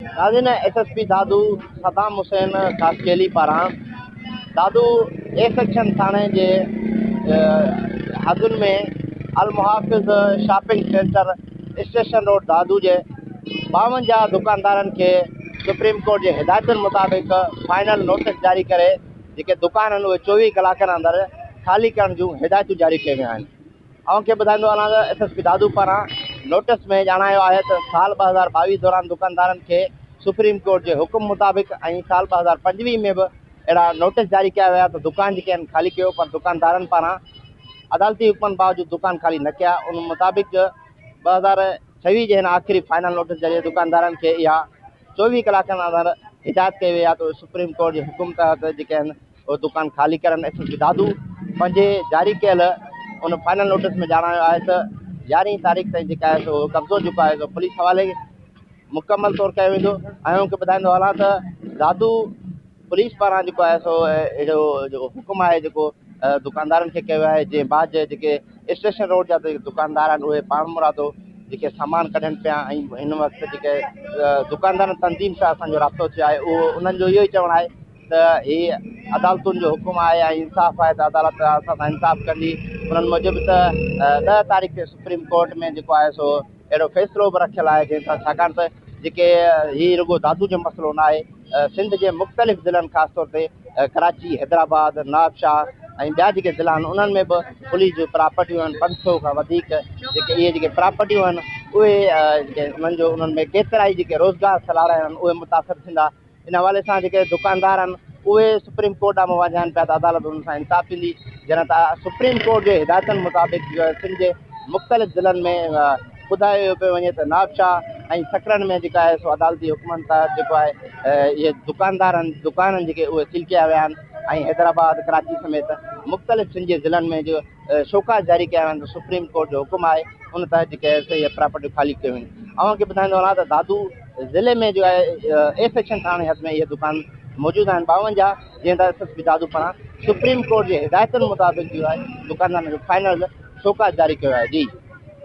ناظرين S S P Dadu Saddam Hussain Khaskheli پاران Dadu A section ٿاڻي جي حدن ۾ Al Muhafiz shopping centre station road Dadu جي ٻاونجاهه دڪاندارن کي سپريم ڪورٽ جي هدايتن مطابق فائنل نوٽس جاري ڪري جيڪي دڪان آهن اهي چوويهه ڪلاڪن اندر خالي ڪرڻ جون هدايتون جاري ڪيون ويون آهن اوهان کي ٻڌائيندو هلان ته ايس ايس پي دادو پاران نوٽس ۾ ڄاڻايو آهي ته سال ٻه هزار ٻاويهه دوران دڪاندارن کي سپريم ڪورٽ جي حڪم مطابق ۽ سال ٻه هزار پنجويهه ۾ به اهڙا نوٽس جاري ڪيا ويا ته دڪان جيڪي آهن خالي ڪيو پر دڪاندارن پاران عدالتي حڪمن باوجود دڪان خالي نه ڪيا ان مطابق ٻه هزار ڇويهه جي هن آخري فائنل نوٽس ذريعي دڪاندارن کي اها چوويهه ڪلاڪن اندر هدايت ڪئي وئي آهي ته اهي سپريم ڪورٽ جي حڪم تحت جيڪي آهن اهو دڪان خالي ڪرڻ ايس ايس پي دادو پنهنجي جاري ڪيل ان فائنل نوٽيس ۾ ڄاڻايو آهي ته يارهين تاريخ تائين جيڪا آهي سو قبضو جيڪو آهي سو پوليس حوالي مڪمل طور ڪيو ويندو ۽ ان کي ٻڌائيندو هلان ته دادو پوليس پاران جيڪو آهي سو اهڙو جيڪو حڪم آهي جيڪو دڪاندارن کي ڪيو آهي جنهن بعد جي جيڪي اسٽيشن روڊ جا دڪاندار آهن اهي پاڻ مرادو جيڪي سامان ڪڍن پيا ۽ هن وقت جيڪي دڪاندارن تنظيم سان اسانجو رابطو ٿيو آهي اهو انهن جو اهو ئي چوڻ آهي ته هي عدالتن جو حڪم آهي ۽ انصاف آهي ته عدالت اسان سان انصاف ڪندي. انهن موجب ته ڏهه تاريخ تي سپريم ڪورٽ ۾ جيڪو آهي سو اهڙو فيصلو به رکيل آهي جنهن سان ڇاڪاڻ ته جيڪي هي رڳو دادو جو مسئلو نه آهي سنڌ جي مختلف ضلعن خاص طور تي ڪراچي، حيدرآباد، نوابشاهه ۽ ٻيا جيڪي ضلعا آهن انهن ۾ به پوليس جون پراپرٽيون آهن پنج سئو کان وڌيڪ جيڪي اهي جيڪي پراپرٽيون آهن اهي انهن جو انهن ۾ ڪيترائي جيڪي روزگار سلاڙا آهن اهي متاثر ٿيندا. ان حوالي سان جيڪي دڪاندار آهن اهي سپريم ڪورٽ ڏانهن منهن وانجهائن پيا ته عدالت انهن سان انصاف ٿيندي جڏهن ته سپريم ڪورٽ جي هدايتن مطابق سنڌ جي مختلف ضلعن ۾ ٻڌايو پيو وڃي ته نابشاهه ۽ سڪرن ۾ جيڪا آهي سو عدالتي حڪمن تحت جيڪو آهي اهي دڪاندار آهن دڪان آهن جيڪي اهي سيل ڪيا ويا آهن ۽ حيدرآباد ڪراچي سميت مختلف سنڌ جي ضلعن ۾ جو شوڪاز جاري ڪيا ويا آهن سپريم ڪورٽ جو حڪم آهي ان تحت جيڪي آهي سو اهي پراپرٽيون خالي ڪيون ويون اوهان کي ٻڌائيندو هلان ته دادو ضلعي ۾ جو آهي اي سيڪشن ٿاڻي حد ۾ اهي دڪان موجود آهن ٻاونجاهه جنهن تحت ايس ايس پي دادو پاران سپريم ڪورٽ جي هدايتن مطابق جو آهي دڪاندارن کي فائنل شوڪاز جاري ڪيو آهي جي